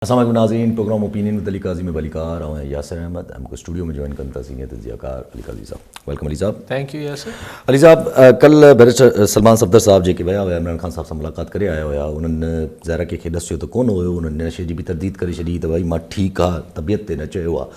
اسلام عليڪم ناظرين programme opinion with Ali Qazi ۾ به علي قهار ۽ ياسر احمد ۽ مون کي اسٽوڊيو ۾ جوائن ڪن ٿا سينيئر تجزيه ڪار علي قاضي صاحب ويلڪم علي صاحب ٿينڪ يو ياسر علي صاحب ڪل بيرسٽر سلمان صفدر صاحب جيڪي ويا هيا عمران خان صاحب سان ملاقات ڪري آيا هيا انهن ظاهر ڪنهن کي ڏسيو ته ڪونه هيو انهن هن شي جي به ترديد ڪري ڇڏي ته ڀائي مان ٺيڪ آ طبيعت تي نه چيو آ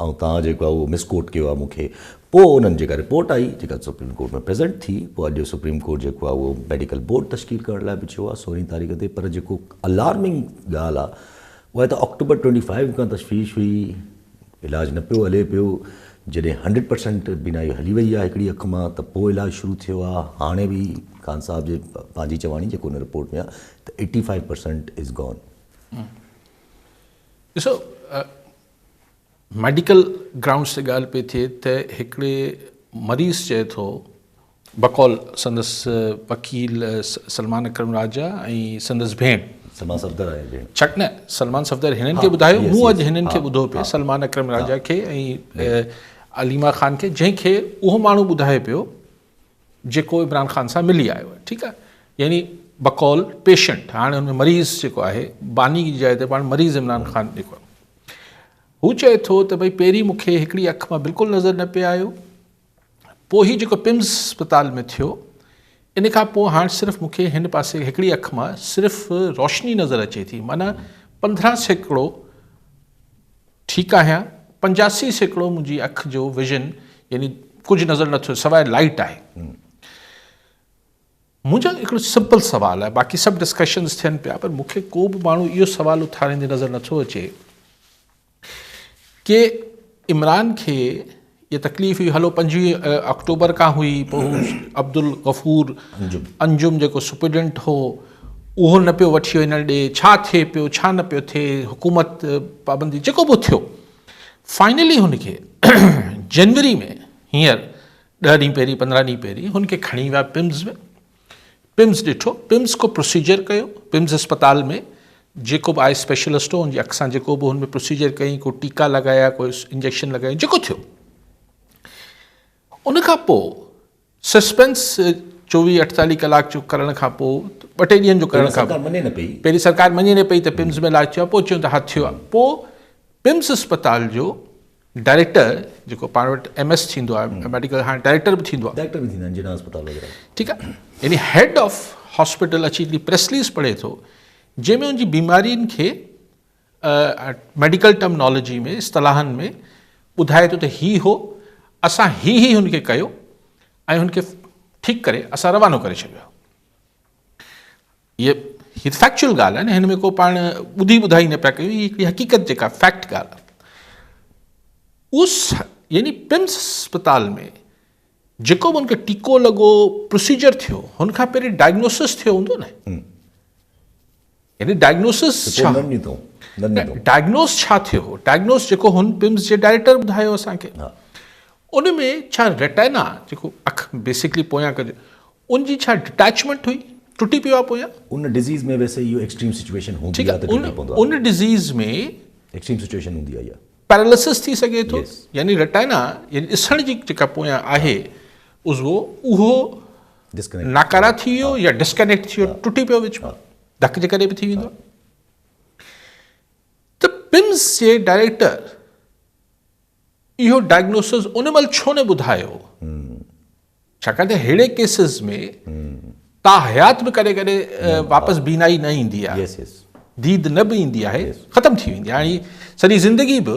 ۽ توهان جيڪو آ اهو مسڪوٽ ڪيو آ مون کي پوء انهن جيڪا رپورٽ آئي جيڪا سپريم ڪورٽ ۾ پريزنٽ ٿي پوء اڄ سپريم ڪورٽ جيڪو آهي اهو ميڊيڪل بورڊ تشڪيل ڪرڻ لاء به چيو آهي سورهين تاريخ تي پر جيڪو الارمنگ ڳالهه آهي اها ته آڪٽوبر ٽوئنٽي فائيو کان تشويش هئي علاج نه پيو هلي پيو جڏهن هنڊريڊ پرسنٽ بينائي هلي وئي آهي هڪڙي اک مان ته پوء علاج شروع ٿيو آهي هاڻي به خان صاحب جي پنهنجي چواڻي جيڪو ان رپورٽ ۾ آهي ته eighty five percent is gone ڏسو ميڊيڪل گرائونڊز تي ڳالهه پئي ٿئي ته هڪڙي مريض چئي ٿو بقول سندس وڪيل سلمان اڪرم راجا ۽ سندس ڀيڻ سلمان صفدر ۽ ڀيڻ ڇڪ نه سلمان صفدر هنن کي ٻڌايو مون اڄ هنن کي ٻڌو پئي سلمان اڪرم راجا کي ۽ عليما خان کي جنهن کي اهو ماڻهو ٻڌائي پيو جيڪو عمران خان سان ملي آيو آهي ٺيڪ آهي يعني بقول پيشنٽ هاڻي ان مريض جيڪو آهي باني جي جاء تي پاڻ مريض عمران خان جيڪو هو چئي ٿو ته ڀئي پهرين مون کي هڪڙي اک مان بلڪل نظر نه پي آيو پوء هي جيڪو پمز اسپتال ۾ ٿيو ان کان پوء هاڻ صرف مون کي هن پاسي هڪڙي اک مان صرف روشني نظر اچي ٿي معنيٰ پندرهن سيڪڙو ٺيڪ آهيان، پنجاسي سيڪڙو منهنجي اک جو ويزن يعني ڪجهه نظر نه ٿو سواء لائيٽ آهي. منهنجو هڪڙو سمپل سوال آهي باقي سڀ ڊسڪشنز ٿين پيا پر مون کي ڪو به ماڻهو اهو سوال اٿاريندي نظر نه ٿو اچي ڪي عمران کي جي تڪليف هئي هلو پنجويهه آڪٽوبر کان هئي پوء هو عبدالغفور انجم جيڪو سپريڊنٽ هو اهو نه پيو وٺي وڃڻ ڏي ڇا ٿئي پيو ڇا نه پيو ٿئي حڪومت پابندي جيڪو به ٿيو فائنلي هن کي جنوري ۾ هينئر ڏهه ڏينهن پهرين پندرهن ڏينهن پهرين هن کي کڻي ويا پمز ۾ پمز ڏٺو، پمز ڪو پروسيجر ڪيو، پمز اسپتال ۾ جيڪو به آء اسپيشلسٽ هو ان جي اکسان جيڪو به هن ۾ پروسيجر ڪيائين، ڪو ٽيڪا لڳايا، ڪو انجيڪشن لڳايائين، جيڪو ٿيو. ان کان پوء سسپينس چوويهه اٺتاليهه ڪلاڪ جو ڪرڻ کان پوء ٻه ٽي ڏينهن جو ڪرڻ کان پوء پهرين سرڪار مڃي نه پئي ته پمز ۾ علاج ٿيو آهي، پوء چيو ته ها ٿيو آهي، پوء پمز اسپتال جو ڊائريڪٽر جيڪو پاڻ وٽ ايم ايس ٿيندو آهي ميڊيڪل هاڻي ڊائريڪٽر به ٿيندو آهي ڊائريڪٽر به ٿيندا آهن جناح اسپتال وغيره ٺيڪ آهي يعني هيڊ آف هاسپيٽل اچي هڪڙي پريس رليز پڙهي ٿو جنهن ۾ ان جي بيمارين کي ميڊيڪل ٽرمنالاجي ۾ اصطلاحن ۾ ٻڌائي ٿو ته هي هو اسان هي هي هن کي ڪيو ۽ هن کي ٺيڪ ڪري اسان روانو ڪري ڇڏيو هيء هيء فيڪچوئل ڳالهه آهي نه هن ۾ ڪو پاڻ ٻڌي ٻڌائي نه پيا ڪيون هيء هڪڙي حقيقت جيڪا فيڪٽ ڳالهه آهي اس يعني پمس اسپتال ۾ جيڪو به ان کي ٽيڪو لڳو پروسيجر ٿيو هن کان پهرين ڊائگنوسس ٿيو هوندو نه يعني ڊائگنوسس ڇا؟ ڊائگنوس ڇا ٿيو؟ ڊائگنوس جيڪو هن پمس جي ڊائريڪٽر ٻڌايو اسان کي. ان ۾ ڇا ريٽينا جيڪو اک بيسڪلي پويان ڪجي ان جي ڇا ڊٽيچمينٽ هئي؟ ٽٽي پيو آ پويان؟ ان ڊزيز ۾ ويسي اهو ايڪسٽريم سچويشن هوندي آ ته ٽٽي پوندو آ. ان ڊزيز ۾ ايڪسٽريم سچويشن هوندي آ اها. پيراليسس ٿي سگهي ٿو يعني ريٽينا يعني ڏسڻ جي جيڪا پويان آهي عضوو اهو ناڪاره ٿي ويو يا ڊسڪنيڪٽ ٿي ويو ٽٽي پيو وچ مان ڌڪ جي ڪري به ٿي ويندو آهي ته پمس جي ڊائريڪٽر اهو ڊائگنوسز ان مهل ڇو نه ٻڌايو ڇاڪاڻ ته ههڙي ڪيسز ۾ تا حيات به ڪڏهن ڪڏهن واپس بينائي نه ايندي آهي ديد نه به ايندي آهي ختم ٿي ويندي آهي سڄي زندگي به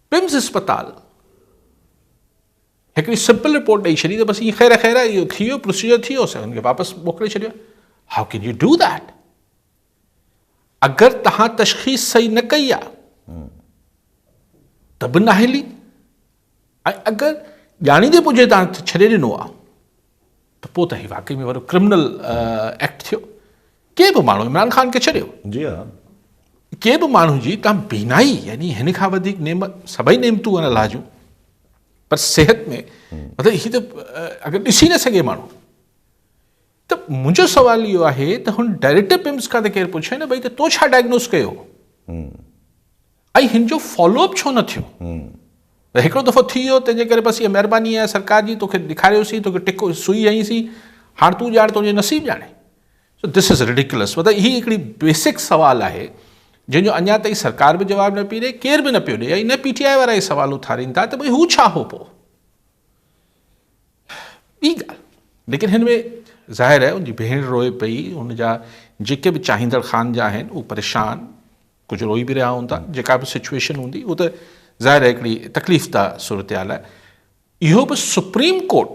پمز اسپتال هڪڙي سمپل رپورٽ ڏئي ڇڏي ته بس ائين خير خير اهو ٿي ويو پروسيجر ٿي ويو اسان هن کي واپس موڪلي ڇڏيو how can you do that اگر تهان تشخيص صحيح نه ڪئي آ ته به ناهلي اگر ڄاڻيندي پجي تهان ڇڏي ڏنو آ ته پوء ته هي واقعي ۾ وڏو ڪرمنل ايڪٽ ٿيو. ڪنهن به ماڻهو عمران خان کي ڇڏيو. جي ها. ڪنهن به ماڻهو جي تان بينائي يعني هن کان وڌيڪ نعم سڀئي نعمتون آهن الله جون پر صحت ۾ مطلب هي ته اگر ڏسي نه سگهي ماڻهو ته منهنجو سوال اهو آهي ته هن ڊائريڪٽر پمس کان ته ڪير پڇي نه ڀئي ته تو ڇا ڊائگنوز ڪيو هو. ۽ هن جو فالو اپ ڇو نه ٿيو؟ هڪڙو دفعو ٿي ويو تنهنجي ڪري بس اها مهرباني آهي سرڪار جي توکي ڏيکاريوسين توکي ٽڪ سوئي هنئي سين هاڻ تون ڄاڻ تنهنجي نصيب ڄاڻي سو دس از ريڊيڪلس مطلب هي هڪڙي بيسڪ سوال آهي جنهن جو اڃا تائين سرڪار به جواب نه پي ڏي ڪير به نه پيو ڏي ۽ نه پي ٽي آء وارا هي سوال اٿارين ٿا ته ڀئي هو ڇا هو پو ٻي ڳالهه ليڪن هن ۾ ظاهر آهي ان جي ڀيڻ روئي پئي ان جا جيڪي به چاهيندڙ خان جا آهن اهو پريشان ڪجهه روئي به رهيا هوندا جيڪا به سچوئيشن هوندي هو ته ظاهر آهي هڪڙي تڪليف ده صورتحال آهي اهو به سپريم ڪورٽ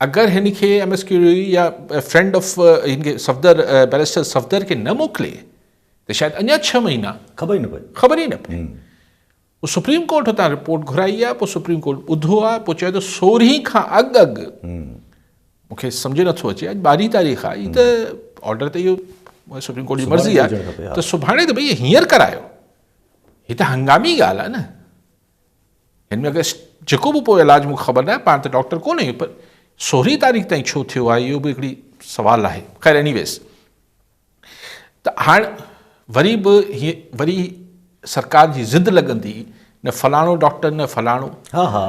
اگر هن کي ايم ايس ڪيو يا فرينڊ آف هن کي صفدر بيرسٽر صفدر کي نه موڪلي ته شايد اڃا ڇهه مهينا خبر ئي نه پئي خبر ئي نه پئي سپريم ڪورٽ هتان رپورٽ گهرائي آهي، پوء سپريم ڪورٽ ٻڌو آهي، پوء چيو ته سورهين کان اڳ اڳ مون کي سمجهه نٿو اچي اڄ ٻارهين تاريخ آهي هي ته آرڊر ته اهو سپريم ڪورٽ جي مرضي آهي ته سڀاڻي ته ڀئي هينئر ڪرايو هي ته هنگامي ڳالهه آهي نه هن ۾ اگر جيڪو به پوء علاج مون کي خبر نه آهي پاڻ ته ڊاڪٽر ڪونه آهيون پر سورهين تاريخ تائين ڇو ٿيو آهي اهو به هڪڙي سوال آهي خير ايني ويز ته هاڻ وري به هي وري سرڪار جي ضد لڳندي نه فلاڻو ڊاڪٽر نه فلاڻو ها ها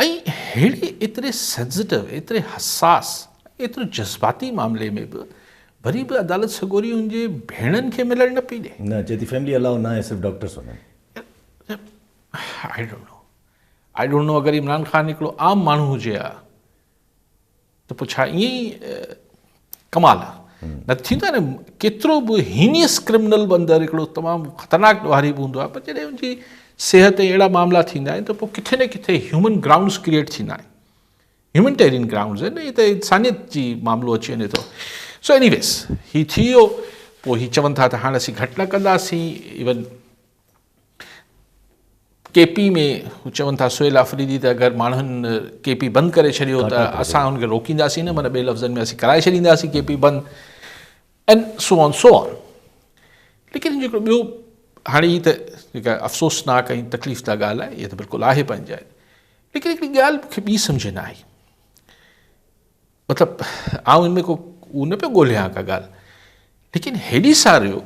۽ ههڙي ايتري سينسيٽو ايتري حساس ايترو جذباتي معاملي ۾ به وري به عدالت سڳوري ان جي ڀيڻن کي ملڻ نه پئي ڏي نه چئي ٿي فيملي الاؤ ناهي صرف ڊاڪٽرس وڃن I don't know I don't know اگر عمران خان هڪڙو عام ماڻهو هجي ها ته پوء ڇا ائين ئي ڪمال آ. نه ته ٿيندو آهي نه ڪيترو به هينيس ڪرمنل به اندر هڪڙو تمام خطرناڪ ڏوهاري به هوندو آهي پر جڏهن ان جي صحت ۽ اهڙا معاملا ٿيندا آهن ته پوء ڪٿي نه ڪٿي هيومن گرائونڊز ڪريئيٽ ٿيندا آهن هيومنٽيرين گرائونڊز آهن هي ته انسانيت جي معاملو اچي وڃي ٿو سو ايني ويز هي ٿي ويو پوء هي چون ٿا ته هاڻ اسين گهٽ نه ڪنداسين ايون ڪي پي ۾ چون ٿا سهيل آفريدي ته اگر ماڻهن ڪي پي بند ڪري ڇڏيو ته اسان ان کي روڪينداسين نه مطلب ٻئي لفظن ۾ اسين ڪرائي ڇڏينداسين ڪي پي بند ان سو آن سو آن ليڪن جيڪو ٻيو هاڻي هي ته جيڪا افسوسناڪ ۽ تڪليف دا ڳالهه آهي هي ته بلڪل آهي پنهنجي جاء ليڪن هڪڙي ڳالهه مونکي ٻي سمجھ نه آئي مطلب آئون ان ۾ ڪو ان پيو ڳوليان ڪا ڳالهه ليڪن هيڏي ساريو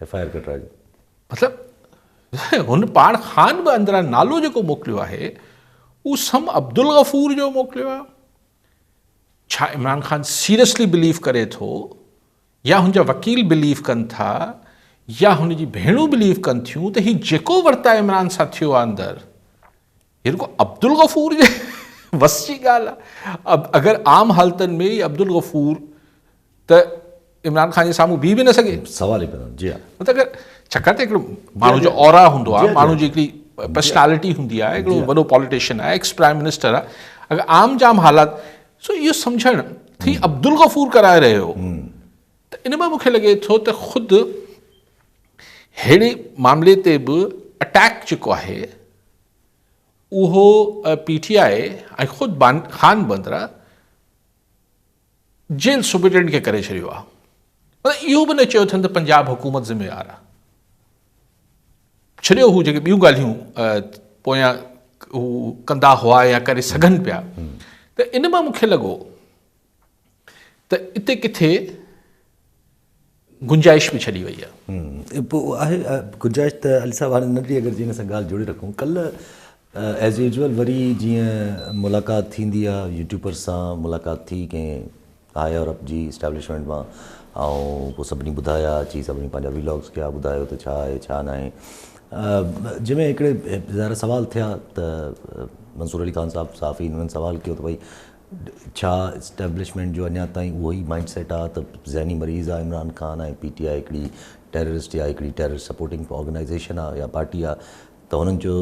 ايف آء آر ڪٽرائجي. مطلب هن پاڻ خان به اندران نالو جيڪو موڪليو آهي اهو سم عبدالغفور جو موڪليو آهي ڇا عمران خان سيريسلي بليف ڪري ٿو يا هن جا وڪيل بليف ڪن ٿا يا هن جي ڀيڻون بليف ڪن ٿيون ته هي جيڪو ورتا عمران سان ٿيو آهي اندر هي رڳو عبدالغفور جي وس جي ڳالهه آهي اگر عام حالتن ۾ عبدالغفور ته عمران خان جي سامهون بيهي به نه سگهي سوال ئي پيدا جي ها مطلب اگر ڇاڪاڻ ته هڪڙو ماڻهو جو اورا هوندو آهي ماڻهو جي هڪڙي پرسنالٽي هوندي آهي هڪڙو وڏو پاليٽيشن آهي ايڪس پرائم منسٽر آهي اگر عام جام حالات سو اهو سمجهڻ ٿي عبدالغفور ڪرائي رهيو ته ان مان مون کي لڳي ٿو ته خود ههڙي معاملي تي به اٽيڪ جيڪو آهي اهو پي ٽي آء ۽ خود خان بندرا جيل سپرنٽينڊنٽ کي ڪري ڇڏيو آهي مطلب اهو به نه چيو اٿن ته پنجاب حڪومت ذميوار آهي ڇڏيو هو جيڪي ٻيون ڳالهيون پويان هو ڪندا هئا يا ڪري سگهن پيا ته ان مان مونکي لڳو ته اتي ڪٿي گنجائش به ڇڏي وئي آهي. پوء آهي گنجائش ته علي صاحب هاڻي ننڍڙي اگر جي ان سان ڳالهه جوڙي رکون ڪلهه ايز يوزول وري جيئن ملاقات ٿيندي آهي يوٽيوبرس سان ملاقات ٿي ڪنهن هاء اور اپ جي اسٽيبلشمينٽ مان ۽ پوء سڀني ٻڌايا اچي سڀني پنهنجا ويلاگس ڪيا ٻڌايو ته ڇا آهي ڇا نه آهي جنهن ۾ هڪڙي ظاهر سوال ٿيا ته منصور علي خان صاحب صحافي هنن سوال ڪيو ته ڀئي ڇا اسٽيبلشمينٽ جو اڃا تائين اهو ئي مائينڊ سيٽ آ ته ذهني مريض آ Imran Khan ۽ P T I هڪڙي ٽيررسٽ يا هڪڙي ٽيرر سپورٽنگ آرگنائيزيشن آ يا پارٽي آ ته هنن چيو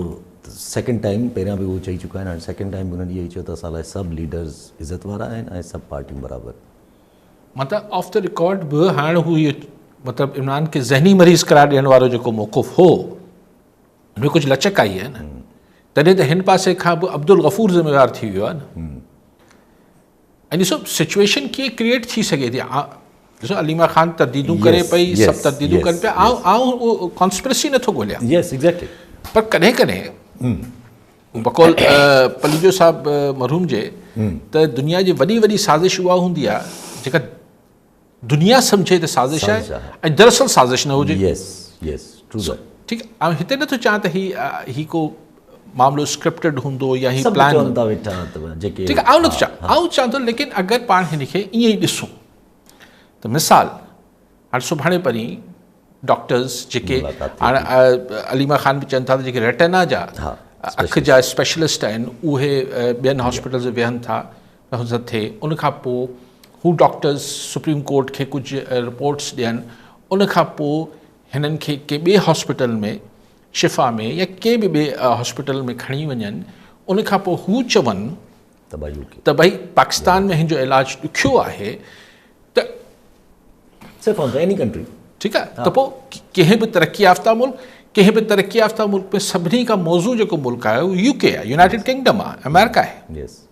ته سيڪنڊ ٽائيم پهريان به اهو چئي چڪا آهن هاڻي سيڪنڊ ٽائيم به هنن اهو ئي چيو ته اسان لاء سڀ ليڊرز عزت وارا آهن ۽ سڀ پارٽيون برابر. مطلب آف دي رڪارڊ به هاڻ هو اهو مطلب عمران کي ذهني مريض قرار ڏيڻ وارو جيڪو موقف هو. ۾ ڪجهه لچڪ آئي آهي نه تڏهن ته هن پاسي کان به عبدالغفور ذميوار ٿي ويو آهي نه ۽ ڏسو سچويشن ڪيئن ڪريئيٽ ٿي سگهي ٿي ڏسو عليما خان ترديدون ڪري پئي سڀ ترديدون ڪن پيا آئون آئون اهو ڪانسپرسي نٿو ڳوليان يس ايگزيڪٽلي پر ڪڏهن ڪڏهن بقول پليجو صاحب مرحوم جي ته دنيا جي وڏي وڏي سازش اها هوندي آهي جيڪا دنيا سمجهي ته سازش آهي ۽ دراصل سازش نه هجي يس يس ٽرو سر ٺيڪ آء هتي نه ٿو چاهيان ته هي هي ڪو معاملو اسڪرپٽڊ هوندو يا هي پلان سڀ چوندا ويٺا ته جيڪي ٺيڪ آء نه ٿو چاهيان آء چاهيان ٿو ليڪن اگر پاڻ هن کي ائين ئي ڏسون ته مثال هاڻي سڀاڻي پرين ڊاڪٽرز جيڪي هاڻي عليما خان به چون ٿا ته جيڪي ريٽنا جا اک جا اسپيشلسٽ آهن اهي ٻين هاسپيٽلز ويهن ٿا نهضت ٿئي ان کان پوء هو ڊاڪٽرز سپريم ڪورٽ کي ڪجهه رپورٽس ڏين ان کان پوء هنن کي ڪنهن ٻئي هاسپيٽل ۾ شفا ۾ يا ڪنهن به ٻئي هاسپيٽل ۾ کڻي وڃن ان کان پوء هو چون ته ڀئي پاڪستان ۾ هن جو علاج ڏکيو آهي ته ٺيڪ آهي ته پوء ڪنهن به ترقي يافته ملڪ ڪنهن به ترقي يافته ملڪ ۾ سڀني کان موضوع جيڪو ملڪ آهي يو ڪي آهي يونائٽيڊ ڪنگڊم آهي آمريڪا آهي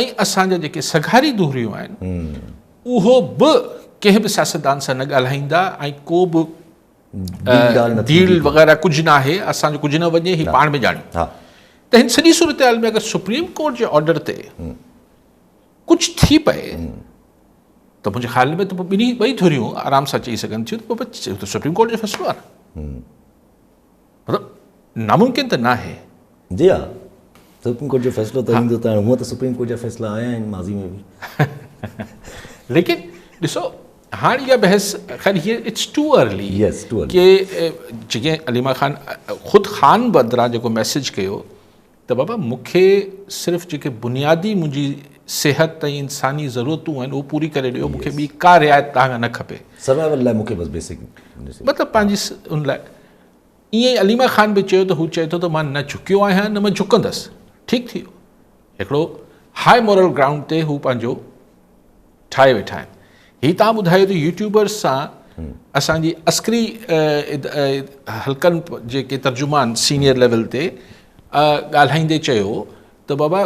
۽ اسان جا جيڪي سگهاري دهريون آهن اهو به ڪنهن به سياستدان سان نه ڳالهائيندا ۽ ڪو به ڊيل وغيره ڪجهه نه آهي اسان جو ڪجهه نه وڃي هي پاڻ ۾ ڄاڻيون ته هن سڄي صورتحال ۾ اگر سپريم ڪورٽ جي آرڊر تي ڪجهه ٿي پئي ته منهنجي خيال ۾ ته ٻنهي ٻئي ڌريون آرام سان چئي سگهن ٿيون ته سپريم ڪورٽ جو فيصلو آهي مطلب ناممڪن ته ناهي. جي ها سپريم ڪورٽ جو فيصلو ته ايندو ته هونئن ته سپريم ڪورٽ جا فيصلا آيا آهن ماضي ۾ به ليڪن ڏسو هاڻ اها بحث خير هيئر اٽس ٽو ارلي ڪي جيئن عليما خان خود خان بدران جيڪو ميسج ڪيو ته بابا مون کي صرف جيڪي بنيادي منهنجي صحت ۽ انساني ضرورتون آهن اهو پوري ڪري ڏيو مون کي ٻي ڪا رعايت توهان کان نه کپي سروائيول لاء مون کي بس بيسڪ مطلب پنهنجي ان لاء ائين ئي عليما خان به چيو ته هو چئي ٿو ته مان نه جهڪيو آهيان نه مان جهڪندس ٺيڪ ٿي ويو هڪڙو هاء مورل گرائونڊ تي هو پنهنجو ٺاهي ويٺا آهن هي تان ٻڌايو ته يوٽيوبرز سان اسان جي عسڪري حلقن جيڪي ترجمان سينيئر ليول تي ڳالهائيندي چيو ته بابا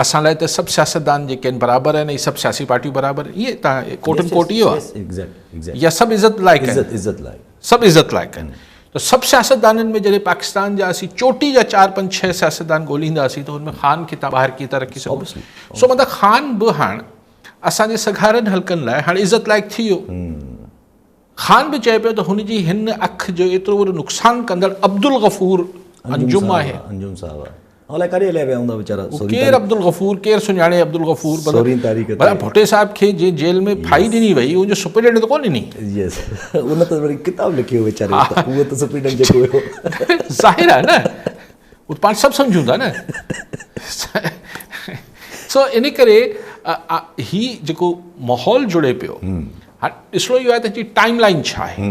اسان لاء ته سڀ سياستدان جيڪي آهن برابر آهن ۽ سڀ سياسي پارٽيون برابر ائين تان ڪوٽن ڪوٽ اهو آهي يا سڀ عزت لائق عزت لائق سڀ عزت لائق آهن ته سڀ سياستدانن ۾ جڏهن پاڪستان جا اسين چوٽي جا چار پنج ڇهه سياستدان ڳولينداسين ته ان ۾ خان کي تان ٻاهر ڪيئن ٿا رکي سگهو سو مطلب خان به هاڻ اسان جي سگهارن حلقن لاء هاڻ عزت لائق ٿي ويو خان به چئي پيو ته هن جي هن اک جو ايترو وڏو نقصان ڪندڙ عبدالغفور انجم آهي الائي ڪڏهن الهي ويا هوندا ويچارا. هو ڪير عبدالغفور؟ ڪير سڃاڻي عبدالغفور؟ سورهين تاريخ تي. ڀلا ڀٽي صاحب کي جنهن جيل ۾ ڦاهي ڏني وئي ان جو سپريڊنٽ ته ڪو ڏني. يس ان ته وري ڪتاب لکيو ويچاري ها ها اهو ته سپريڊنٽ جيڪو هيو. ظاهر آهي نه هو ته پاڻ سڀ سمجهون ٿا نه سو ان ڪري هي جيڪو ماحول جڙي پيو هاڻي ڏسڻو اهو آهي ته هن جي ٽائيم لائين ڇا آهي.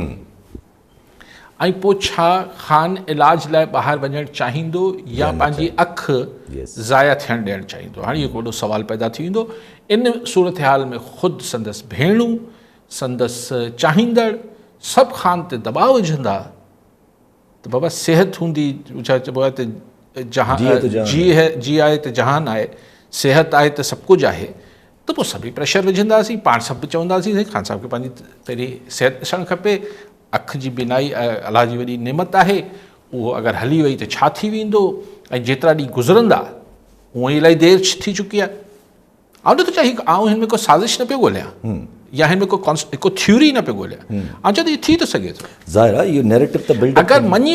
۽ پوء ڇا خان علاج لاء ٻاهر وڃڻ چاهيندو يا پنهنجي اک ضايع ٿيڻ ڏيڻ چاهيندو؟ هاڻي هڪ وڏو سوال پيدا ٿي ويندو. ان صورتحال ۾ خود سندس ڀيڻون، سندس چاهيندڙ سڀ خان تي دٻاء وجهندا ته بابا صحت هوندي ڇا چئبو آهي ته جي آهي ته جهان آهي، صحت آهي ته سڀ ڪجهه آهي. ته پوء سڀ ئي پريشر وجهنداسين، پاڻ سڀ به چونداسين سائين خان صاحب کي پنهنجي پهرين صحت ڏسڻ کپي، اک جي بينائي الله جي وڏي نعمت آهي، اهو اگر هلي وئي ته ڇا ٿي ويندو ۽ جيترا ڏينهن گذرندا، هونئن ئي الائي دير ٿي چڪي آهي. آئون نٿو چاهيان هي آئون هن ۾ ڪو سازش نه پيو ڳوليان يا هن ۾ ڪو ڪو ٿيوري نه پيو ڳوليان، آئون چاهيان ٿو هي ٿي ٿو سگهي ٿو. ظاهر آهي اهو نيريٽو ته بلڊ اپ اگر مڃي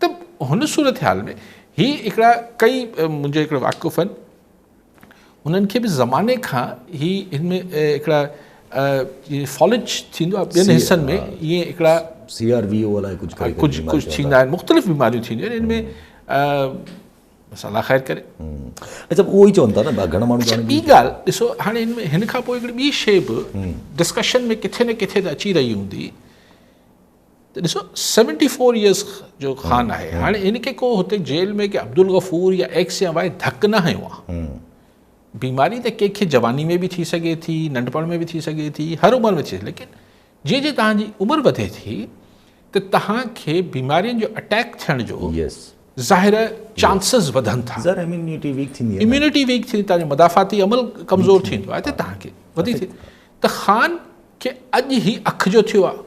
ته هن صورتحال ۾ هي هڪڙا ڪئي منهنجي هڪڙا واقف آهن انهن کي به زماني کان هي هن ۾ هڪڙا فالج ٿيندو آهي ٻين حصن ۾ ائين هڪڙا سي آر وي او الائي ڪجهه ڪري ڪجهه ڪجهه ٿيندا آهن مختلف بيماريون ٿينديون آهن ان ۾ بس الله خير ڪري اچھا اهو ئي چون ٿا نه گھڻا ماڻهو ڄاڻن ٻي ڳالهه ڏسو هاڻي ان ۾ هن کان پوء هڪڙي ٻي شي به ڊسڪشن ۾ ڪٿي نه ڪٿي ته اچي رهي هوندي ته ڏسو سيونٽي فور ايئرس جو خان آهي هاڻي هن کي ڪو هتي جيل ۾ ڪي عبدالغفور يا ايڪس يا وائي ڌڪ نه هنيو آهي بيماري ته ڪنهن کي جواني ۾ به ٿي سگهي ٿي ننڍپڻ ۾ به ٿي سگهي ٿي هر عمر ۾ ٿي ليڪن جي جي توهان جي عمر وڌي ٿي ته توهان کي بيمارين جو اٽيڪ ٿيڻ جو ظاهر چانسز وڌن ٿا اميونٽي ويڪ ٿيندي اميونٽي ويڪ ٿيندي تنهنجو مدافعتي عمل ڪمزور ٿيندو آهي ته توهان کي وڌي ٿي ته خان کي اڄ هي اک جو ٿيو آهي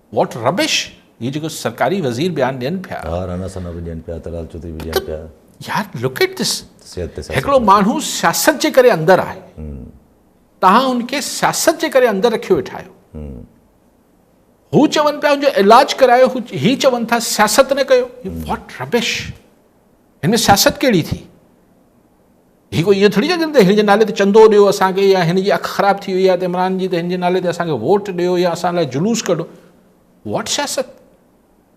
واٽ ربش هي جيڪو سرڪاري وزير بيان ڏين پيا ها رانا ثنا به ڏين پيا طلال چوڌري به ڏين پيا يار لوڪ ايٽ دس هڪڙو ماڻهو سياست جي ڪري اندر آهي تهان ان کي سياست جي ڪري اندر رکيو ويٺا آهيو هو چون پيا ان جو علاج ڪرايو هي چون ٿا سياست نه ڪيو واٽ ربش هن ۾ سياست ڪهڙي ٿي هي ڪو ائين ٿوري آهي جن تي هن جي نالي تي چندو ڏيو اسان کي يا هن جي اک خراب ٿي وئي آهي ته عمران جي ته هن جي نالي تي اسان کي ووٽ ڏيو يا اسان لاء جلوس ڪڍو واٽ سياست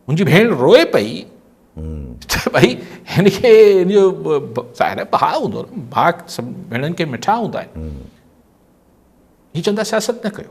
منهنجي ڀيڻ روئي پئي ته ڀائي هن کي هن جو ظاهر آهي بها هوندو نه بها سڀ ڀيڻن کي مٺا هوندا آهن هي چوندا سياست نه ڪيو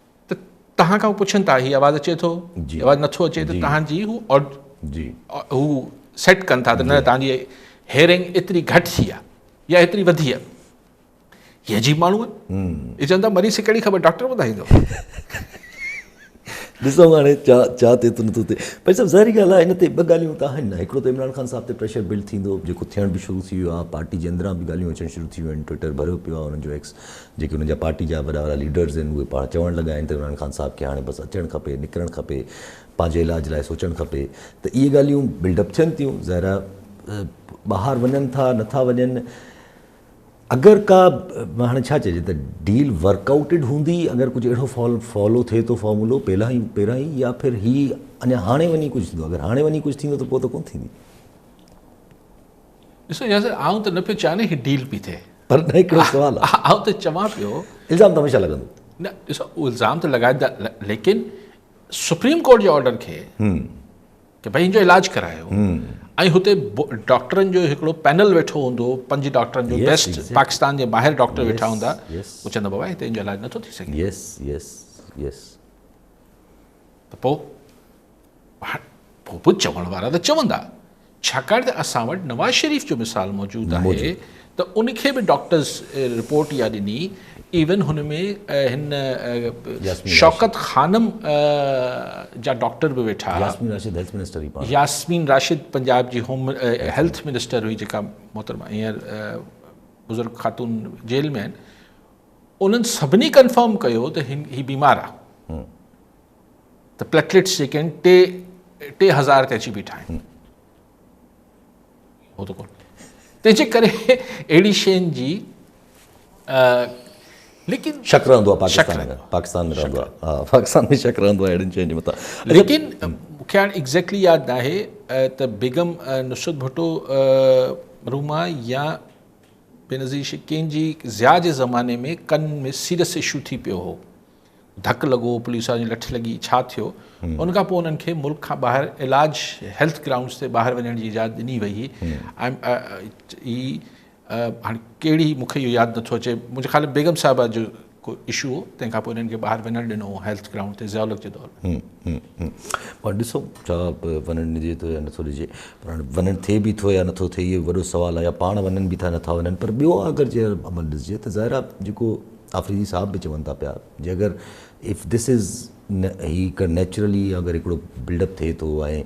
ته توهان کان پڇن ٿا هي آواز اچي ٿو جي آواز نٿو اچي ته توهان جي هو جي هو سيٽ ڪن ٿا ته نه توهان جي هيرنگ ايتري گهٽ ٿي آ يا ايتري وڌي آ هي عجيب ماڻهو آهي چون ٿا مريض کي ڪهڙي خبر ڊاڪٽر ٻڌائيندو ڏسو هاڻي ڇا ڇا ٿئي ٿو نٿو ٿئي پر صاحب ظاهري ڳالهه آهي هن تي ٻه ڳالهيون ته آهن نه هڪڙو ته عمران خان صاحب تي پريشر بلڊ ٿيندو جيڪو ٿيڻ به شروع ٿي ويو آهي پارٽي جي اندران به ڳالهيون اچڻ شروع ٿي ويون آهن ٽوئٽر ڀريو پيو آهي هنن جو ايڪس جيڪي انهن جا پارٽي جا وڏا وڏا ليڊرز آهن اهي پاڻ چوڻ لڳا آهن ته عمران خان صاحب کي هاڻي بس اچڻ کپي نڪرڻ کپي پنهنجي علاج لاء سوچڻ کپي ته اهي ڳالهيون بلڊ اپ ٿين ٿيون ظاهر آهي ٻاهر وڃن ٿا نٿا وڃن اگر ڪا هاڻي ڇا چئجي ته ڊيل ورڪ آئوٽيڊ هوندي اگر ڪجهه اهڙو فال فالو ٿئي ٿو فارمولو پهلا ئي پهران ئي يا پھر هي اڃا هاڻي وڃي ڪجهه ٿيندو اگر هاڻي وڃي ڪجهه ٿيندو ته پوء ته ڪونه ٿيندي ڏسو ياسر آئون ته نه پيو چاهيان نه هي ڊيل پي ٿئي پر نه هڪڙو سوال آ آئون ته چوان پيو الزام ته هميشه لڳندو نه ڏسو الزام ته لڳائيندا ليڪن سپريم ڪورٽ جي آرڊر کي ته بھي ان جو علاج ڪرايو ۽ هتي ڊاڪٽرن جو هڪڙو پينل ويٺو هوندو پنج ڊاڪٽرن جو بيسٽ پاڪستان جي ٻاهر ڊاڪٽر ويٺا هوندا هو چوندا بابا هتي ان جو علاج نٿو ٿي سگهي يس يس يس ته پوء هاڻ پوء به چوڻ وارا ته چوندا ڇاڪاڻ ته اسان وٽ نواز شريف جو مثال موجود آهي ته ان کي به ڊاڪٽرز رپورٽ اها ڏني ايون هن ۾ هن شوڪت خانم جا ڊاڪٽر به ويٺا ياسمين راشد پنجاب جي هوم هيلٿ منسٽر هئي جيڪا محترمه هينئر بزرگ خاتون جيل ۾ آهن انهن سڀني ڪنفرم ڪيو ته هي بيمار آهي ته پليٽليٽس جيڪي آهن ٽي ٽي هزار تي اچي بيٺا آهن هو ته ڪون تنهنجي ڪري اهڙي شين جي لیڪن شڪ رهندو آهي پاڪستان ۾ پاڪستان ۾ رهندو آهي پاڪستان ۾ شڪ رهندو آهي اهڙين شين جي متان ليڪن مونکي هاڻي ايگزيڪٽلي ياد نه آهي ته بيگم نصرت ڀٽو روما يا بينظير شڪين جي ضياء جي زماني ۾ ڪن ۾ سيريس اشو ٿي پيو هو ڌڪ لڳو، پوليس وارن جي لٺ لڳي، ڇا ٿيو؟ ان کان پوء انهن کي ملڪ کان ٻاهر علاج هيلٿ گرائونڊز تي ٻاهر وڃڻ جي اجازت ڏني وئي هئي. هي هاڻي ڪهڙي مون کي اهو ياد نٿو اچي، منهنجي خيال ۾ بيگم صاحبه جو ڪو اشو هو، تنهن کان پوء انهن کي ٻاهر وڃڻ ڏنو هو هيلٿ گرائونڊ تي ضياء الحق جي دور ۾. پر ڏسو ڇا وڃڻ ڏجي ٿو يا نٿو ڏجي، پر هاڻي وڃڻ ٿئي به ٿو يا نٿو ٿئي اهو وڏو سوال آهي يا پاڻ وڃن به ٿا نٿا وڃن پر ٻيو اگر جي عمل ڏسجي ته ظاهر آهي جيڪو آفريدي صاحب به چون ٿا پيا جي اگر اف ڌس از هي ڪ نيچرلي اگر هڪڙو بلڊ اپ ٿئي ٿو ۽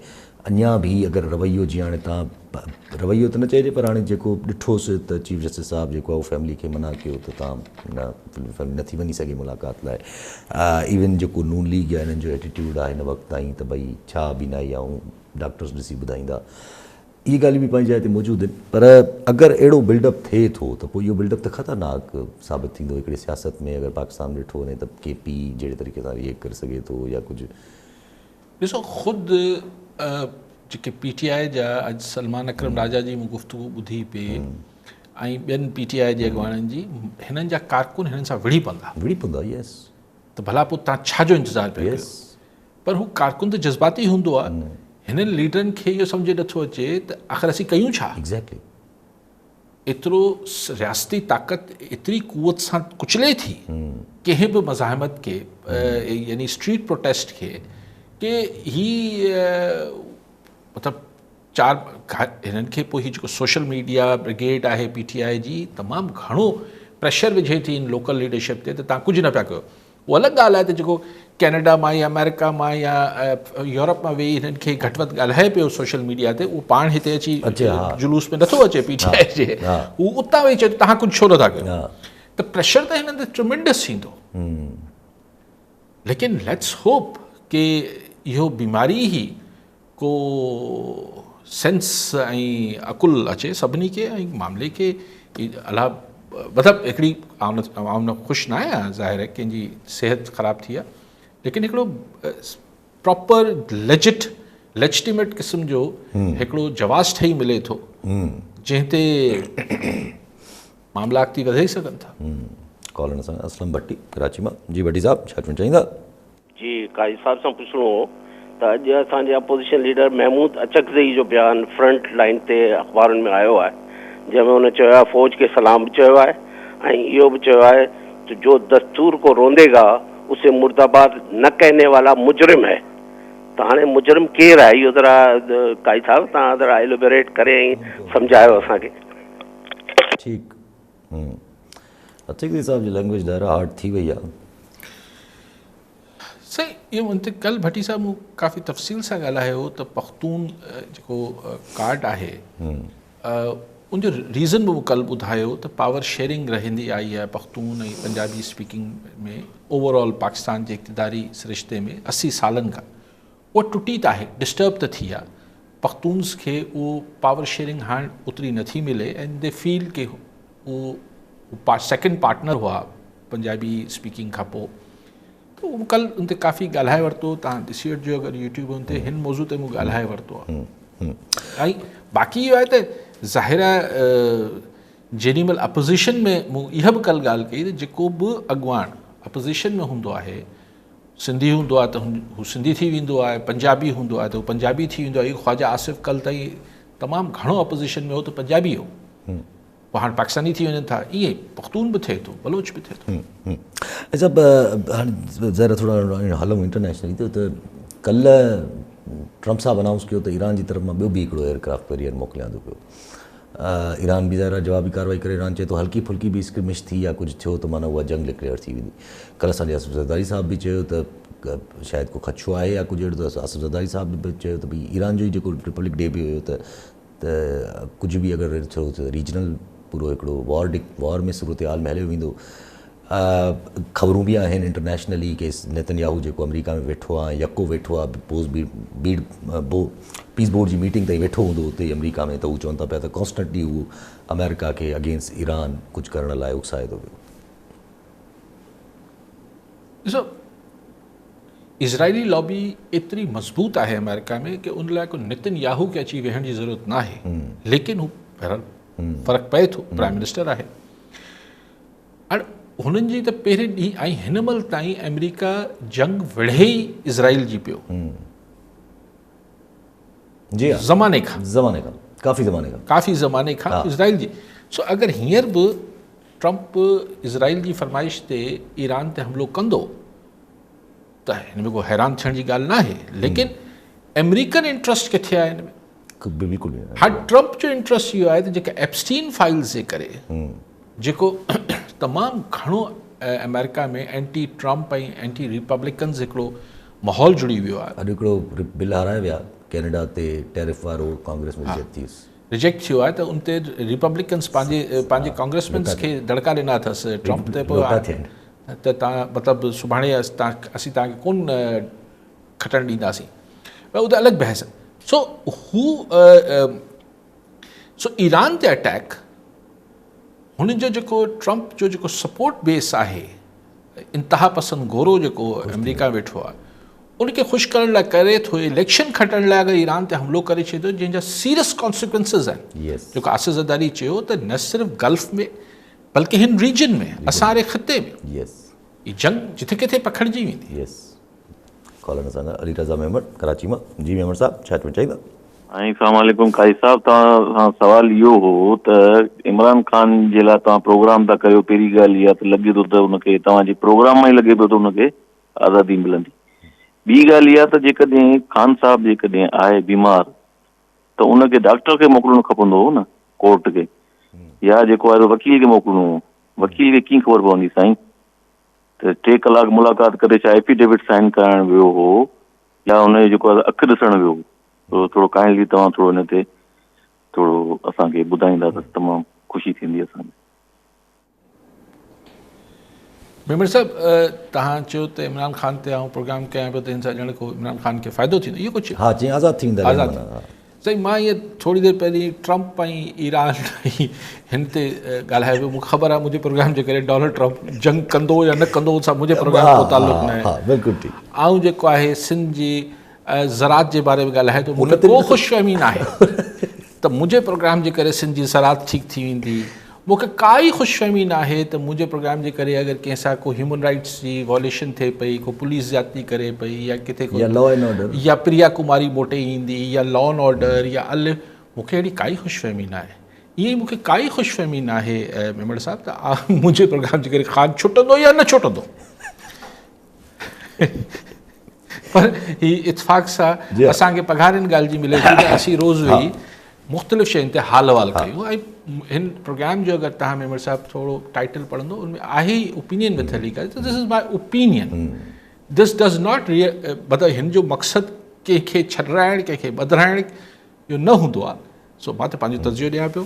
اڃان به هي اگر رويو جي هاڻي تان رويو ته نه چئجي پر هاڻي جيڪو ڏٺوس ته چيف جسٽس صاحب جيڪو آهي هو فيملي کي منع ڪيو ته تان نه فيملي نه ٿي وڃي سگهي ملاقات لاء ايون جيڪو نون ليگ يا هنن جو ايٽيٽيوڊ آهي هن وقت تائين ته ڀئي ڇا بينائي آئون ڊاڪٽرس ڏسي ٻڌائيندا اهي ڳالهيون به پنهنجي جاء تي موجود آهن پر اگر اهڙو بلڊ اپ ٿئي ٿو ته پوء اهو بلڊ اپ ته خطرناڪ ثابت ٿيندو هڪڙي سياست ۾ اگر پاڪستان ۾ ڏٺو وڃي ته ڪي پي جهڙي طريقي سان ريئيڪٽ ڪري سگهي ٿو يا ڪجهه ڏسو خود جيڪي پي ٽي آء جا اڄ سلمان اڪرم راجا جي مون گفتگو ٻڌي پئي ۽ ٻين پي ٽي آء جي اڳواڻن جي هنن جا ڪارڪن هنن سان وڙهي پوندا وڙهي پوندا يس ته ڀلا پوء تان ڇا جو انتظار پيا ڪيو پر هو ڪارڪن ته جذباتي هوندو آ هنن ليڊرن کي اهو سمجهه نه ٿو اچي ته آخر اسين ڪيون ڇا؟ ايگزيڪٽلي ايترو رياستي طاقت ايتري قوت سان ڪچلي ٿي ڪنهن به مزاحمت کي يعني اسٽريٽ پروٽيسٽ کي ڪي هي مطلب چار هنن کي پوء هي جيڪو سوشل ميڊيا برگيڊ آهي پي ٽي آء جي تمام گهڻو پريشر وجهي ٿي ان لوڪل ليڊرشپ تي ته تان ڪجهه نه پيا ڪيو اهو الڳ ڳالهه آهي ته جيڪو ڪينيڊا مان يا آمريڪا مان يا يورپ مان ويهي هنن کي گهٽ وڌ ڳالهائي پيو سوشل ميڊيا تي اهو پاڻ هتي اچي جلوس ۾ نٿو اچي پي ٽي آء جي هو اتان ويهي چئي ٿو تهان ڪجهه ڇو نٿا ڪيو ته پريشر ته هنن تي ٽرمنڊس ٿيندو ليڪن ليٽس هوپ ڪي اهو بيماري هي ڪو سينس ۽ عقل اچي سڀني کي ۽ معاملي کي الاء مطلب هڪڙي آئون خوش نه آهيان ظاهر آهي ڪنهن جي صحت خراب ٿي آهي ليڪن هڪڙو پراپر ليجٽ ليجٽيميٽ قسم جو هڪڙو جواز ٺهي ملي ٿو جنهن تي معاملا اڳتي وڌي سگهن ٿا ڪالر اسلم ڀٽي ڪراچي مان جي ڀٽي صاحب ڇا چوڻ چاهيندا جي قائد صاحب سان پڇڻو هو ته اڄ اسان جي اپوزيشن ليڊر محمود اچڪزئي جو بيان فرنٽ لائين تي اخبارن ۾ آيو آهي جنهن ۾ هن چيو آهي فوج کي سلام به چيو آهي ۽ اهو به چيو آهي ته جو دستور ڪو روندي گا اسي مرداباد نه ڪهني والا مجرم هي ته هاڻي مجرم ڪير آهي اهو ذرا قائد صاحب تهان ذرا ايلوبريٽ ڪري ۽ سمجهايو اسان کي. ٺيڪ عتيقي صاحب جي لينگويج ڏاهر آرٽ ٿي وئي آهي. سائين اهو منطق ڪل ڀٽي صاحب مون ڪافي تفصيل سان ڳالهايو هو ته پختون جيڪو ڪارڊ آهي ان جو ريزن به مون ڪل ٻڌايو ته پاور شيئرنگ رهندي آئي آهي Pakhtun ۽ Punjabi speaking ۾ over all Pakistan جي اقتداري سرشتي ۾ اسي سالن کان اها ٽٽي ته آهي ڊسٽرب ته ٿي آهي پختونز کي اهو پاور شيئرنگ هاڻ اوتري نه ٿي ملي اينڊ دي فيل ڪي اهو سيڪنڊ پارٽنر هئا پنجابي اسپيڪنگ کان پوء ته اهو ڪل ان تي ڪافي ڳالهائي ورتو تان ڏسي وٺجو اگر يوٽيوب ان تي هن موضوع تي مون ڳالهائي ورتو آهي ۽ باقي اهو آهي ته ظاهر آهي جيڏي مهل اپوزيشن ۾ مون اها به ڪل ڳالهه ڪئي ته جيڪو به اڳواڻ اپوزيشن ۾ هوندو آهي سنڌي هوندو آهي ته هو سنڌي ٿي ويندو آهي، پنجابي هوندو آهي ته هو پنجابي ٿي ويندو آهي، خواجه آصف ڪلهه تائين تمام گهڻو اپوزيشن ۾ هو ته پنجابي هو، پوء هاڻ پاڪستاني ٿي وڃن ٿا، ائين ئي پختون به ٿئي ٿو، بلوچ به ٿئي ٿو. اچا هاڻي ذرا ٿورا هلون انٽرنيشنل تي ته ڪلهه ٽرمپ صاحب انائونس ڪيو ته ايران جي طرف مان ٻيو به هڪڙو ايئر ڪرافٽ ڪيريئر موڪليان ٿو پيو. ايران به ظاهر آهي جوابي ڪارروائي ڪري ايران چئي ٿو هلڪي ڦلڪي به اسڪرمش ٿي يا ڪجهه ٿيو ته معنيٰ اها جنگ ڊڪليئر ٿي ويندي ڪلهه اسان جي اصف زرداري صاحب به چيو ته شايد ڪو خدشو آهي يا ڪجهه اهڙو ته اصف زرداري صاحب به چيو ته ڀئي ايران جو ئي جيڪو رپبلڪ ڊي به هيو ته ته ڪجهه به اگر ٿيو ته ريجنل پورو هڪڙو وار ڊڪ وار ۾ صورتحال ۾ هليو ويندو خبرون به آهن انٽرنيشنلي ڪي نيتن ياهو جيڪو آمريڪا ۾ ويٺو آهي يڪو ويٺو آهي پوز بي بيڊ بو پيس بورڊ جي ميٽنگ تائين ويٺو هوندو اتي آمريڪا ۾ ته هو چون ٿا پيا ته ڪانسٽنٽلي هو آمريڪا کي اگينسٽ ايران ڪجهه ڪرڻ لاء اڪسائي ٿو پيو. ڏسو اسرائيلي لابي ايتري مضبوط آهي آمريڪا ۾ ڪي ان لاء ڪو نيتن ياهو کي اچي ويهڻ جي ضرورت ناهي ليڪن هو فرق پئي ٿو پرائم منسٽر آهي اڻ هنن جي ته پهرين ڏينهن ۽ هن مهل تائين آمريڪا جنگ وڙهي ئي اسرائيل جي پيو جي ها زماني کان زماني کان ڪافي زماني کان ڪافي زماني کان اسرائيل جي سو اگر هينئر به ٽرمپ اسرائيل جي فرمائش تي ايران تي حملو ڪندو ته هن ۾ ڪو حيران ٿيڻ جي ڳالهه ناهي ليڪن آمريڪن انٽرسٽ ڪٿي آهي هن ۾ بلڪل هاڻي ٽرمپ جو انٽرسٽ اهو آهي ته جيڪا ايپسٽين فائلز جي ڪري جيڪو تمام گهڻو آمريڪا ۾ اينٽي ٽرمپ ۽ اينٽي ريپبليڪنز هڪڙو ماحول جڙي ويو آهي. اڄ هڪڙو بل هارايو ويا ڪينيڊا تي ٽيرف وارو ڪانگريس ۾ رجيڪٽ ٿيس. رجيڪٽ ٿيو آهي ته ان تي ريپبليڪنز پنهنجي پنهنجي ڪانگريسمينز کي دڙڪا ڏنا اٿس ٽرمپ تي پوء ته تان مطلب سڀاڻي اسين تان کي ڪون کٽڻ ڏينداسين پر اهو ته الڳ بحث سو هو سو ايران تي اٽيڪ هن جو جيڪو ٽرمپ جو جيڪو سپورٽ بيس آهي انتها پسند گورو جيڪو آمريڪا ويٺو آهي ان کي خوش ڪرڻ لاء ڪري ٿو اليڪشن کٽڻ لاء اگر ايران تي حملو ڪري ڇڏيو جنهن جا سيريس ڪانسيڪوينسز آهن جيڪو آصف زرداري چيو ته نه صرف گلف ۾ بلڪه هن ريجن ۾ اسان واري خطي ۾ جنگ جتي ڪٿي پکڙجي ويندي ڪالر نه سان علي رضا ميمڻ ڪراچي مان جي ميمڻ صاحب ڇا چوڻ چاهيندا. سائين سلام عليڪم قائد صاحب توهان سان سوال اهو هو ته عمران خان جي لاء توهان پروگرام ٿا ڪريو پهرين ڳالهه اها ته لڳي ٿو ته ان کي توهان جي پروگرام مان ئي لڳي پيو ته ان کي آزادي ملندي ٻي ڳالهه اها ته جيڪڏهن خان صاحب جيڪڏهن آهي بيمار ته ان کي ڊاڪٽر کي موڪلڻو کپندو هو نه ڪورٽ کي يا جيڪو آهي وڪيل کي موڪلڻو هو وڪيل کي ڪيئن خبر پوندي سائين ته ٽي ڪلاڪ ملاقات ڪري ڇا ايفيڊيوٽ سائن ڪرائڻ ويو هو يا ان جو جيڪو اک ڏسڻ ويو هو ٿورو ڪائنڊلي توهان ٿورو ان تي ٿورو اسان کي ٻڌائيندا ته تمام خوشي ٿيندي اسان کي ميمڻ صاحب تهان چيو ته عمران خان تي آئون پروگرام ڪيان پيو ته هن سان ڄڻ ڪو عمران خان کي فائدو ٿيندو اهو ڪجهه ها جي آزاد ٿي ويندا آزاد سائين مان ايئن ٿوري دير پهرين ٽرمپ ۽ ايران ۽ هن تي ڳالهايو ويو مون کي خبر آهي منهنجي پروگرام جي ڪري ڊونلڊ ٽرمپ جنگ ڪندو يا نه ڪندو ان سان منهنجي پروگرام جو ڪو تعلق نه آهي بلڪل ٺيڪ آئون جيڪو آهي سنڌ جي زراعت جي باري ۾ ڳالهايو ٿو مون کي ڪو خوش فهمي نه آهي ته منهنجي پروگرام جي ڪري سنڌ جي زراعت ٺيڪ ٿي ويندي مون کي ڪا ئي خوش فهمي ناهي ته منهنجي پروگرام جي ڪري اگر ڪنهن سان ڪو هيومن رائيٽس جي وائوليشن ٿئي پئي، ڪو پوليس زيادتي ڪري پئي يا ڪٿي ڪو يا پريا ڪماري موٽي ايندي يا لا اينڊ آرڊر يا الف مون کي اهڙي ڪا ئي خوش فهمي ناهي. ائين ئي مون کي ڪا ئي خوش فهمي ناهي ميمڻ صاحب ته منهنجي پروگرام جي ڪري خان ڇٽندو يا نه ڇٽندو. پر هي اتفاق سا اسان کي پگهار ان ڳالهه جي ملي ٿي ته اسين روز ويهي مختلف شين تي حال احوال ڪيون ۽ هن پروگرام جو اگر تهان ميمڻ صاحب ٿورو ٽائيٽل پڙهندو ان ۾ آهي اوپينين وٿ علي ڪري ته this is my opinion this does not ري مطلب هن جو مقصد ڪنهن کي ڇڏرائڻ ڪنهن کي ٻڌرائڻ جو نه هوندو آهي سو ماته پنهنجو تجزيو ڏيان پيو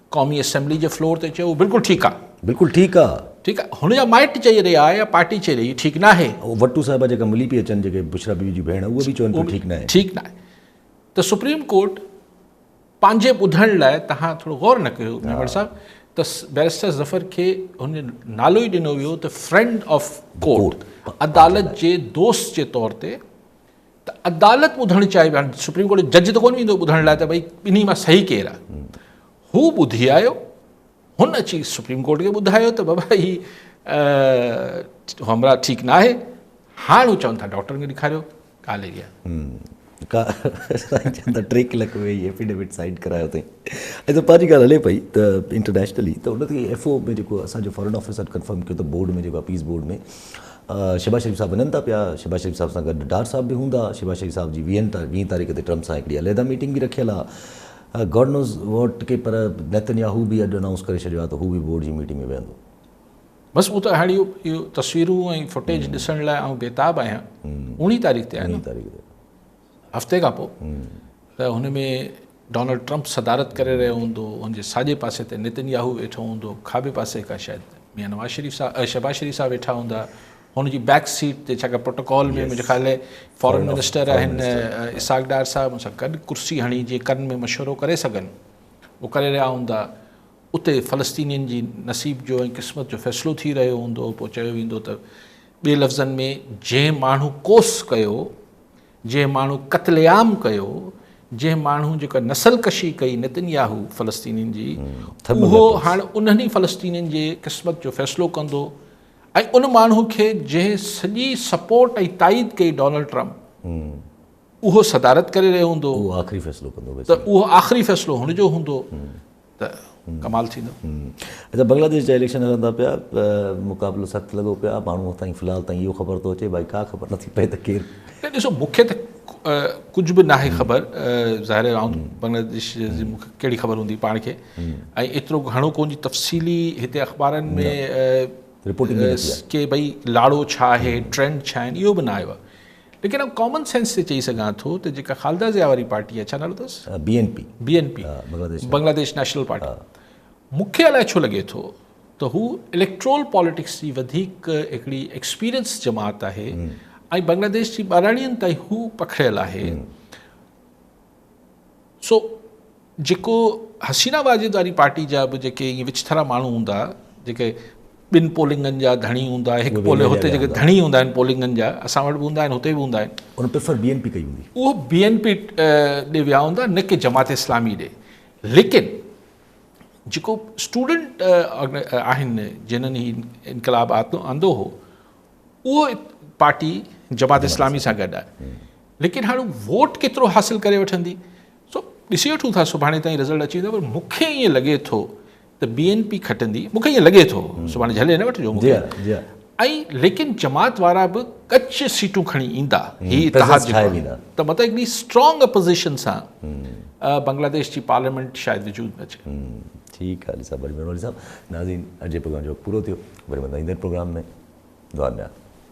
قومي اسيمبلي جي فلور تي چيو بلڪل ٺيڪ آ. بلڪل ٺيڪ آ. ٺيڪ آ هن جا مائٽ چئي رهيا آ يا پارٽي چئي رهي ٺيڪ ناهي. او وٽو صاحبه جيڪا ملي پئي اچن جيڪي بشرا بيوي جون ڀيڻ اهي به چون پيون ٺيڪ ناهي. ٺيڪ ناهي ته سپريم ڪورٽ پنهنجي ٻڌڻ لاء تهان ٿورو غور نه ڪيو ميمڻ صاحب ته بيرسٽر ظفر کي هن نالو ئي ڏنو ويو ته فرينڊ آف ڪورٽ عدالت جي دوست جي طور تي ته عدالت ٻڌڻ چاهي پئي سپريم ڪورٽ جو جج ته ڪونه ايندو ٻڌڻ لاء ته ڀئي ٻنهي مان صحيح ڪير آهي هو ٻڌي آيو هن اچي سپريم ڪورٽ کي ٻڌايو ته بابا هي همراهه ٺيڪ نه آهي هاڻ هو چون ٿا ڊاڪٽر کي ڏيکاريو ڳالهه اهي آهي ٽي ڪلاڪ ويهي ايفيڊيوٽ سائن ڪرايو اٿئي ۽ ته پنهنجي ڳالهه هلي پئي ته انٽرنيشنلي ته ان تي ايف او ۾ جيڪو اسانجو فارن آفيسر ڪنفرم ڪيو ته بورڊ ۾ جيڪو اپيز بورڊ ۾ شهباز شريف صاحب وڃن ٿا پيا، شهباز شريف صاحب سان گڏ ڊار صاحب به هوندا، شهباز شريف صاحب جي ويهن ويهه تاريخ تي ٽرمپ سان هڪڙي عليحده ميٽنگ به رکيل آ گاڊ نوز واٽ ڪي پر نيتنياهو به اڄ انائونس ڪري ڇڏيو آ ته هو به بورڊ جي ميٽنگ ۾ ويهندو. بس مون ته هاڻي اهو تصويرون ۽ فوٽيج ڏسڻ لاء آئون بيتاب آهيان اڻ تاريخ تي آهي نه. هفتي کان پوء ته هن ۾ ڊونلڊ ٽرمپ صدارت ڪري رهيو هوندو، هن جي ساڄي پاسي تي نتن ياهو ويٺو هوندو، کاٻي پاسي کان شايد ميان نواز شريف صاحب شهباز شريف صاحب ويٺا هوندا، هن جي بيڪ سيٽ تي ڇاڪاڻ پروٽوڪول ۾ منهنجي خيال ۾ فارن منسٽر آهن اسحاق ڊار صاحب ان سان گڏ ڪرسي هڻي جي ڪن ۾ مشورو ڪري سگهن اهو ڪري رهيا هوندا، اتي فلسطينين جي نصيب جو ۽ قسمت جو فيصلو ٿي رهيو هوندو، پوء چيو ويندو ته ٻي لفظن ۾ جنهن ماڻهو ڪوس ڪيو جنهن ماڻهو قتل عام ڪيو، جنهن ماڻهو جيڪا نسل ڪشي ڪئي نتن ياهو فلسطينين جي، اهو هاڻ انهن ئي فلسطينين جي قسمت جو فيصلو ڪندو ۽ ان ماڻهو کي جنهن سڄي سپورٽ ۽ تائيد ڪئي ڊونلڊ ٽرمپ اهو صدارت ڪري رهيو هوندو ته اهو آخري فيصلو هن جو هوندو. ته ڪمال ٿيندو. اچا بنگلاديش جا اليڪشن هلن ٿا پيا مقابلو سخت لڳو پيو آهي ماڻهو هتان في الحال تائين اهو خبر ٿو اچي باقي ڪا خبر نٿي پئي ته ڪير نه ڏسو مون کي ته ڪجهه به ناهي خبر ظاهر آهي آئون بنگلاديش جي مون کي ڪهڙي خبر هوندي پاڻ کي ۽ ايترو گهڻو ڪون جي تفصيلي هتي اخبارن ۾ رپورٽنگ ڪي ڀئي لاڙو ڇا آهي ٽرينڊ ڇا آهن اهو به نه آيو آهي ليڪن آئون ڪامن سينس تي چئي سگهان ٿو ته جيڪا خالده ضياء واري پارٽي آهي، ڇا نالو اٿس؟ B N P. B N P, Bangladesh national party, مون کي الائي ڇو لڳي ٿو ته هو اليڪٽرول پاليٽڪس جي وڌيڪ هڪڙي ايڪسپيرينس جماعت آهي ۽ بنگلاديش جي ٻهراڙين تائين هو پکڙيل آهي. سو جيڪو حسينه واجد واري پارٽي جا به جيڪي ائين وچٿرا ماڻهو هوندا جيڪي ٻن پولنگن جا ڌڻي هوندا هڪ پولنگ هتي جيڪي ڌڻي هوندا آهن پولنگن جا اسان وٽ به هوندا آهن هتي به هوندا آهن ان پريفر بي اين پي ڪئي هوندي اهو بي اين پي ڏي ويا هوندا نه ڪي جماعت اسلامي ڏي ليڪن جيڪو اسٽوڊنٽ آهن جنن هي انقلاب آندو هو اهو پارٽي جماعت اسلامي سان گڏ آهي ليڪن هاڻي ووٽ ڪيترو حاصل ڪري وٺندي سو ڏسي وٺون ٿا سڀاڻي تائين رزلٽ اچي ويندو پر مونکي ائين لڳي ٿو ته بي اين پي کٽندي مونکي ائين لڳي ٿو سڀاڻي جهلي نه وٺجو مونکي ۽ ليڪن جماعت وارا به ڪچ سيٽون کڻي ايندا هي اتحاد ته مطلب هڪڙي اسٽرانگ اپوزيشن سان بنگلاديش جي پارليامينٽ شايد وجود ۾ اچي ٺيڪ آ علي صاحب وڏي مھرباني علي صاحب ناظرين اڄ جي پروگرام جو وقت پورو ٿيو وري ملنداسين ايندڙ پروگرام ۾ دعا ۾ ياد.